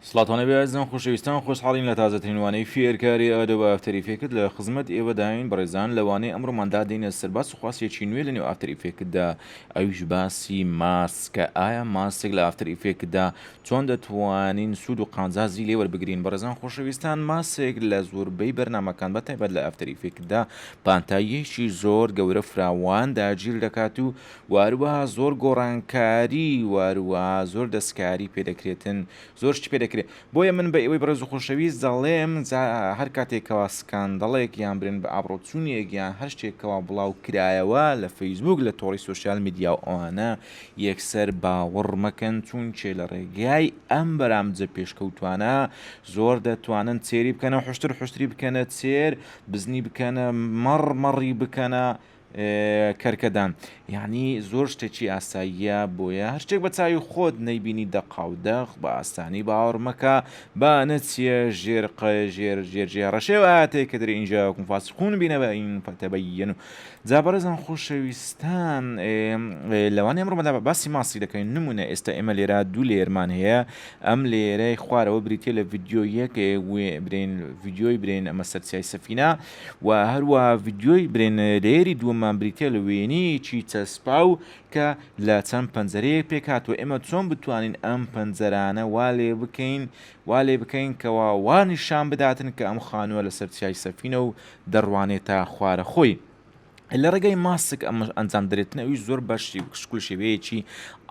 سڵاتان لەبێ ئەزیزان خۆشەویستان خۆشحاڵین لە تازەترین وانەی فێرکاری ئادەوە ئافتەری فێکت لە خزمەت ئێوەداین بەڕێزان لە وانەی ئەمڕۆماندا دێنە سەر باس و خواسێکی نوێ لە نێو ئافتەری فێکتدا ئەویش باسی ماسکە ئایا ماسک لە ئافتەری فێکتدا چۆن دەتوانین سوود و قانزازی لێ وەربگرین بەڕێزان خۆشەویستان ماسک لە زۆربەی بەرنمەکان بە تایبەت لە ئافتەری فێکتدا پانتاییەکی زۆر گەورە فراوان داگیر دەکات و وهروها زۆر گۆڕانکاری وهروها زۆر دەستکاری پێدەکرێتن زۆر شتی پێدەکرێت بۆیە من بە ئێوەی بەڕێز و خۆشەویست دەڵێم جا هەر کاتێک کەوا سکاندەڵێک یان برێن بە ئابڕۆچوونێک یان هەر شتێکەوە بڵاو کرایەوە لە فەیسبوک لە تۆڕی سوسیال میدیا و ئەوانە یەکسەر باوەڕ مەکەن چون چێ لە ڕێگای ئەم بەرامجە پێشکەوتوانە زۆر دەتوانن چێری بکەنە حشتر حشتری بکەنە چێر بزنی بکەنە مەڕ مەڕی بکەنە کەرکەدان یانی زۆر شتێکی ئاساییە بۆیە هەرچێک بە چاوی خۆت نەیبینی دەقا و دەق بە ئاسانی باوەڕ مەکە با نەچیە ژێر قە ژێر ژێر ژێ ڕەشێواتێک کە دەری ئینجا وکم فاسقون بینە بە ئین فەتەبەیەن و جا بەڕێزان خۆشەویستان لەوان ئەمڕۆمەدا بە باسی ماسی دەکەین نمونە ئێستا ئێمە لێرا دوو لێرمان هەیە ئەم لێرەی خوارەوە بریتە لە ڤیددیۆیەک برین ڤیددیۆی برین ئەمە سەرسیای سەفینە و هەروەها ڤیدیۆی برێنەرەیەری دووەممان بریتیە لە وێنەیەکی چەسپاو کە لە چەند پەنجەرەیەک پێکاتوە ئێمە چۆن بتوانین ئەم پەنجەرانە وا لێ بکەین وا لێ بکەین کەوا وانیشان بداتن کە ئەم خانووە لەسەر چیای سەفینە و دەڕوانێتە خوارە خۆی. لە ڕێگای ماسک ئەمە ئەنجام درێتن ئەوی زۆر بەش شکل شێوەیەکی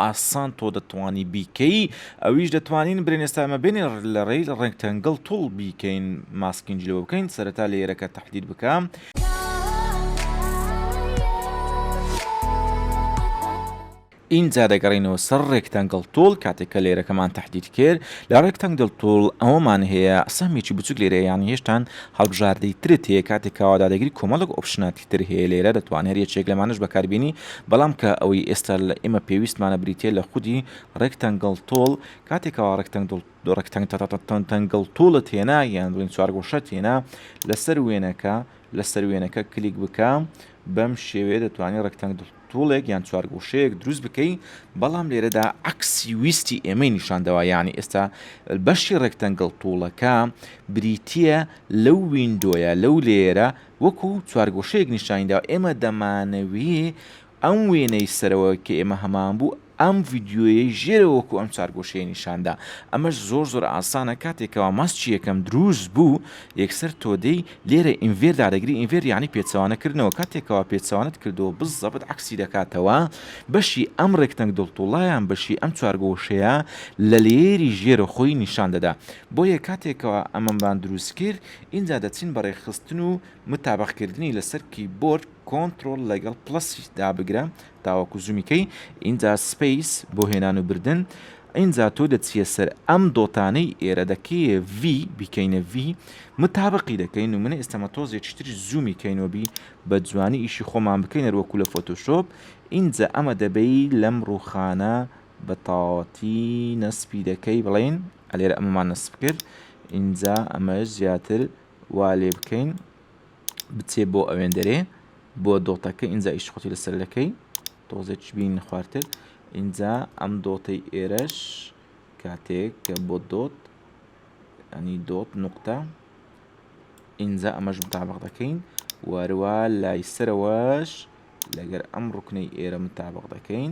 ئاسان تۆ دەتوانی بیکەی ئەویش دەتوانین برێن ئێستامە بێنێ لە ڕێی ڕێک تەنگڵ توڵ بیکەین ماسکینج لەوە بکەین سەرەتا لە یێرەکە تحلیل بکەم. ئینجا دەگەڕێینەوە سەر ڕێکتەنگڵ توڵ کاتێک کە لەیرەکەمان تەحدید کرد لە ڕێکتەنگڵ توڵ ئەوەمان هەیە سەهمێکی بچوک لەیرە هەیە یانی هێشتان هەڵبژاردەی ترت هەیە کاتێک کە وادادەگری کۆمەڵێک ئۆپشناتی تر هەیە لەیرە دەتوان هەر یەکێک لەمانەش بەکاربێنی بەڵام کە ئەوەی ئێستا لە ئێمە پێویستمانە بریتیە لە خودی ڕێکتەنگڵ توڵ کاتێک کەوا ڕێکتەنگڵ ڕێکتەنگتەنگتەنگتەنگڵ توڵت هێنا یان بڵین چوارگۆشەت هێنا لەسەر وێنەکە لەسەر وێنەکە کلیک بکە بەم شێوەیە دەتوانی ڕێکتەنگڵ توڵێک یان چوارگۆشەیەک دروست بکەی بەڵام لێرەدا عکسی ویستی ئێمەی نیشاندەوە یعنی ئێستا بەشی ڕێکتەنگڵ توڵەکە بریتە لەو وینندۆیە لەو لێرە وەکو چوارگۆشەیەک نیشانیدا ئێمە دەمانەوی ئەم وێنەی سەرەوە کە ئێمە هەمان بوو ئەم ڤیدیۆیەی ژێرەوە وەکو ئەم چوار گۆشەیە نیشاندا ئەمەش زۆر زۆر ئاسانە کاتێ کەوا ماسکی یەکەم دروست بوو یەکسەر تۆدەی لێرە ئینڤێر دادەگری ئینڤێر یانی پێچەوانە کردنەوە کاتێ کەوا پێچەوانەت کردەوە بزەبت عەکسی دەکاتەوە بەشی ئەم ڕێکتەنگ دڵتوڵە یان بەشی ئەم چوار گۆشەیە لە لەیەری ژێرە خۆی نیشان دەدا بۆیە کاتێ کەوا ئەمەمان دروست کرد ئینجا دەچین بە ڕێکخستن و متابەق کردنی لەسەر کیبۆرد کۆنتڕۆڵ لەگەڵ پڵەسی دابگرە تاوەکو زوومی کەی ئینجا سپەیس بۆ هێنان و بردن ئینجا تۆ دەچیە سەر ئەم دۆتانەی ئێرە دەکەیە ڤی بیکەینە ڤی متابقی دەکەین و منە ئێستەمە تۆزێکی تری زوومی کەینەوەبی بە جوانی ئیشی خۆمان بکەین هەروەکو لە فۆتۆشۆپ ئینجا ئەمە دەبەی لەم ڕووخانە بە تاواتی نەسپی دەکەی بڵین ئەلێرە ئەمەمان نەسپ کرد ئینجا ئەمە زیاتر وا لێ بکەین بچێ بۆ ئەوێندەرێ بۆ دۆتەکە ئینجا ئیش خۆتی لەسەر دەکەی تۆزێک بین خوارتر ئینجا ئەم دۆتەی ئێرەش کاتێک کە بۆ دۆت ئەنی دۆت نقطە ئینجا ئەمەش متابق دەکەین واروا لای سەرەوەش لەگەر ئەم ڕکنەی ئێرە متابق دەکەین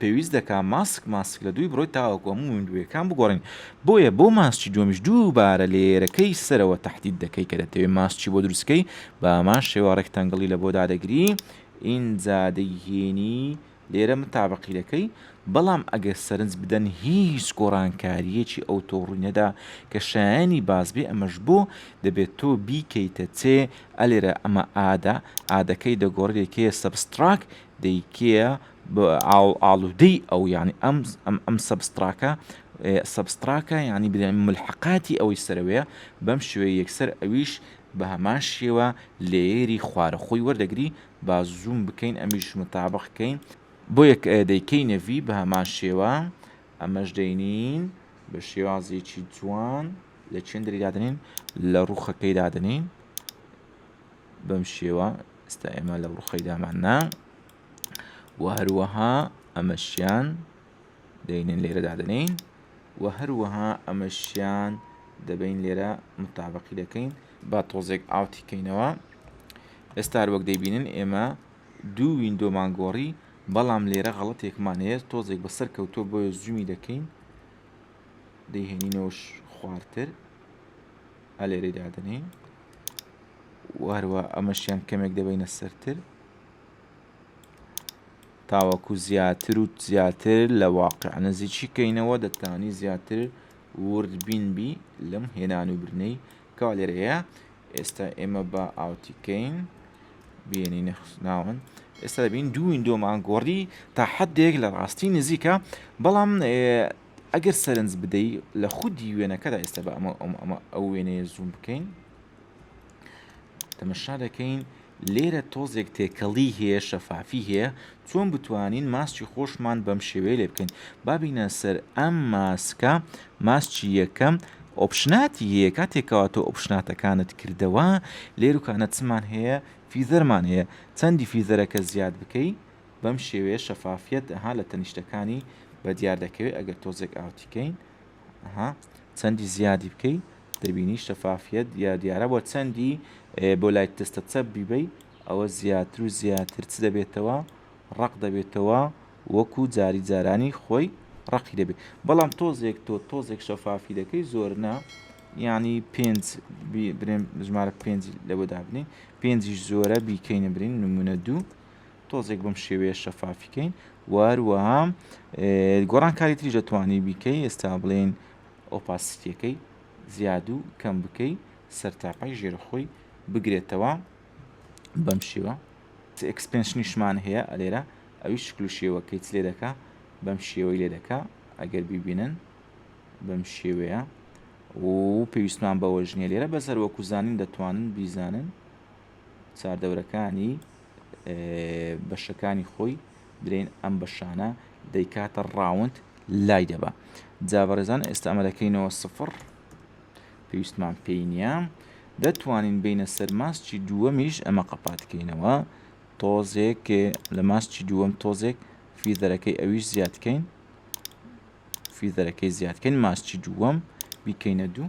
پێویست دەکا ماسک ماسک لە دووی بڕۆیت تاوەکو هەموو مندوویەکان بگۆڕین بۆیە بۆ ماسکی دووەمیش دووبارە لێیەرەکەی سەرەوە تەحدید دەکەی کە دەتەوێ ماسکی بۆ دروستکەی بە هەمان شێوە ڕێکتەنگڵی لە بۆ دادەگری ئینجا دەیهێنی لێرە متابقی دەکەی بەڵام ئەگەر سەرنج بدەن هیچ گۆڕانکاریەکی ئەوتۆ ڕووی نەدا کە شایانی باز بێ ئەمەش بۆ دەبێت تۆ بیکەیتە چێ ئەلێرە ئەمە ئادە ئادەکەی دەگۆڕێکەیە سەبستراک دەیکەیە ئاڵودەی ئەو یانی ئەم ئەم ئەم سەبستراکە سەبستراکە یانی بلێن ملحقاتی ئەوەی سەرەوەیە بەم شوێ یەکسەر ئەویش بە هەمان شێوە لێری خوارە خۆی وەردەگری با زووم بکەین ئەمیش متابقکەین بۆ یەک دەیکەی نەڤی بە هەمان شێوە ئەمەش دەینین بە شێوازێکی جوان لە چێندری دادنین لە ڕوخەکەی دادنین بەم شێوە ئستا ئێمە لە ڕوخەی داماننا وە هەروەها ئەمەشیان دەینن لێرە دادەنین وە هەروەها ئەمەشیان دەبین لێرە متابقی دەکەین با تۆزێک ئاوتی کەینەوە ئێستار وەک دەیبینن ئێمە دوو وینندۆمان گۆڕی بەڵام لێرە غەڵەتێکمان هەیە تۆزێک بەسەر کەوتۆ بۆیە زوومی دەکەین دەیهێنینەوەش خوارتر ئەلێرەی دادنین واروا ئەمەشیان کەمێک دەبینە سەرتر تاوەکو زیاتر و زیاتر لە واقع نزیکی کەینەوە دەتانی زیاتر ورد بین بی لەم هێنان و برنەی کەوا لێرە هەیە ئێستا ئێمە بە ئاوتی کەین بینی نەخناون ئێستا دەبین دوو وینندۆمان گۆڕی تا حدێک لە ڕاستی نزیکە بەڵام ئەگەر سەرنج بدەی لە خودی وێنەکەدا ئێستا بە ئەمە ئەمە ئەو وێنەیە زوم بکەین تەمەشا دەکەین لێرە تۆزێک تێکەڵی هەیە شەفافی هەیە چۆن بتوانین ماسکی خۆشمان بەم شێوەیە لێ بکەین بابینە سەر ئەم ماسکە ماسکی یەکەم ئۆپشناتی هەیە کاتێکەوە تۆ ئۆپشناتەکانت کردەوە لێروکانە چمان هەیە فیزەرمان هەیە چەندی فیزەرەکە زیاد بکەی بەم شێوەیە شەفافیت ها لە تەنیشتەکانی بە دیار دەکەوێت ئەگەر تۆزێک ئاوتیکەین ها چەندی زیادی بکەیت دەبینی شەفافیەت یا دیارە بۆ چەندی بۆ لایت تستە چەپ بیبەی ئەوە زیاتر و زیاتر چ دەبێتەوە ڕق دەبێتەوە وەکو جاری جارانی خۆی ڕقی دەبێت بەڵام تۆزێک تۆ تۆزێک شەفافی دەکەی زۆر نا ینی پێنج برێن ژمارە پێنج لە بۆ دابنین پێنجیش زۆرە بیکەینە برین نمونە دوو تۆزێک بم شێوەیە شەفافیکەین واروەها گۆڕان کاری تری دەتوانی بیکەی ئێستا بڵێن ئۆپاسیتیەکەی زیاد و کەم بکەی سەرتاپای ژێرە خۆی بگرێتەوە بەم شێوە ئەکسپێنشنیشمان هەیە ئەلێرە ئەوی شکل و شێوەکەی چ لێ دەکا بەم شێوەی لێ دەکا ئەگەر بیبینن بەم شێوەیە و پێویستمان بەوەژنیە لێرە بەسەر وەکوزانین دەتوانن بیزانن چاردەورەکانی بەشەکانی خۆی درێن ئەم بەشانە دەیکاتە ڕاوند لای دەبا جا بەڕێزان ئێستا ئەمەلەکەینەوە سفر پێویستمان پێی نییە دەتوانین بینە سەر ماستی دووەمیش ئەمە قەپاتکەینەوە تۆزێک لە ماستی دووەم تۆزێک فیزەرەکەی ئەویش زیادکەین فیزەرەکەی زیادکەین ماستی دووەم بیکەینە دوو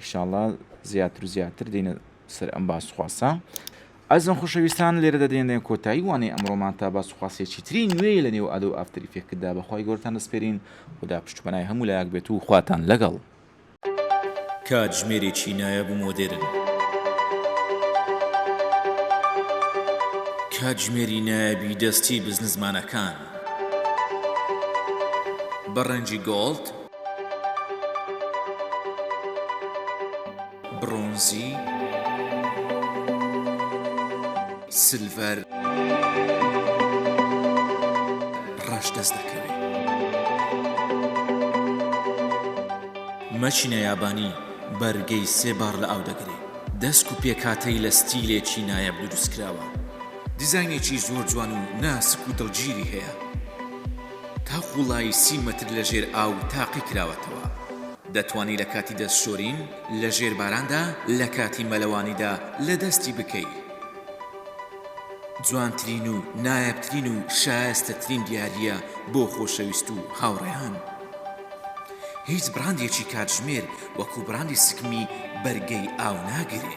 ئیشاڵا زیاتر و زیاتر دێنە سەر ئەم باس خواسە. ئەزم خوشەویستان لێرە دەدێنێ کۆتایی وانەی ئەمڕۆمان تا باس خواسێکی تری نوێی لە نێو ئادۆ ئافتەر ئیفێکتدا بەخوای گەورەتان دەسپێرین خودا پشت و پەنای هەموو لایەک بێت و خواتان لەگەڵ کاتژمێرێکی نایاب و مۆدێرن. کاتژمێری نایابی دەستی بزنسمانەکان بە ڕەنگی گۆڵد، برۆنزی، سلڤەر، ڕەش دەست دەکەوێ. مەچینە یابانی بەرگەی سێ باڕ لە ئاو دەگرێ. دەسک و پێکهاتەی لە ستیلێکی نایاب دروست کراوە. دیزاینێکی زۆر جوان و ناسک و دڵگیری هەیە. تا قوڵایی سی مەتر لە ژێر ئاو تاقی کراوەتەوە. دەتوانی لە کاتی دەست شۆرین لە ژێر باراندا لە کاتی مەلەوانیدا لە دەستی بکەی. جوانترین و نایابترین و شایەستەترین دیارییە بۆ خۆشەویست و هاوڕێیان. هیچ بڕاندێکی کاتژمێر وەکو بڕاندی سکمی بەرگەی ئاو ناگرێ.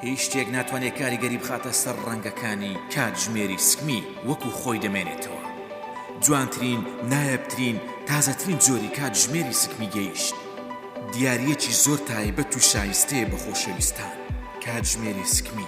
هیچ شتێک ناتوانێت کاریگەری بخاتە سەر ڕەنگەکانی کاتژمێری سکمی وەکو خۆی دەمێنێتەوە جوانترین نایەبترین تازەترین جۆری کاتژمێری سکمی گەیشت دیاریەکی زۆر تایبەت و شایستەیە بە خۆشەویستان کاتژمێری سکمی